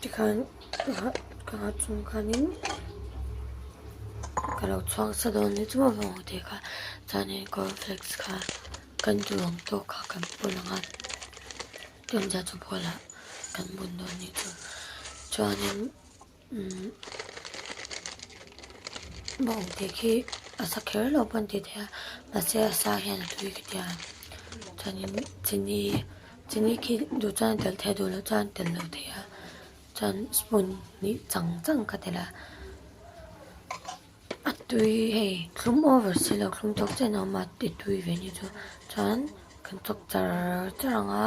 tikhan ka ngah chung khanin ka lo chhuak sa dawn hi chu mamawh ang tih kha chuanin cornflakes kha kan tih ang tawk kha kan pu lang a tunde chu bulah kan bun dawn ni tawh chuanin-- umm bawng te khi a sa kher lo pawh a ni tih theia mahse a sa hian a hlui ka tia chuanin chini chini khi duh chuan a tel thei a duh loh chuan a tel lo thei a chuan spoon hnih chang chang ka telh a a tui hei thlum over si lo thlum chawk chiah na awm a i tui ve ni chu chuan kan chawk char char ang a.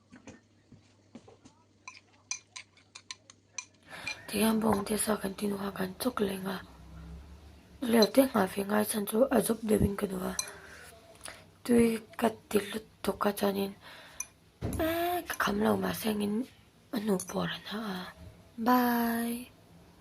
Tihian bawng te sa kan tih hnuah kan chawk leh nghal leh teh nghal ve ngai chhan chu a zawp deuh in ka duh a tui ka ti hlut thawk a chuanin eeii ka kham lo mahse engin a hnu pawh a rawn hah a bye.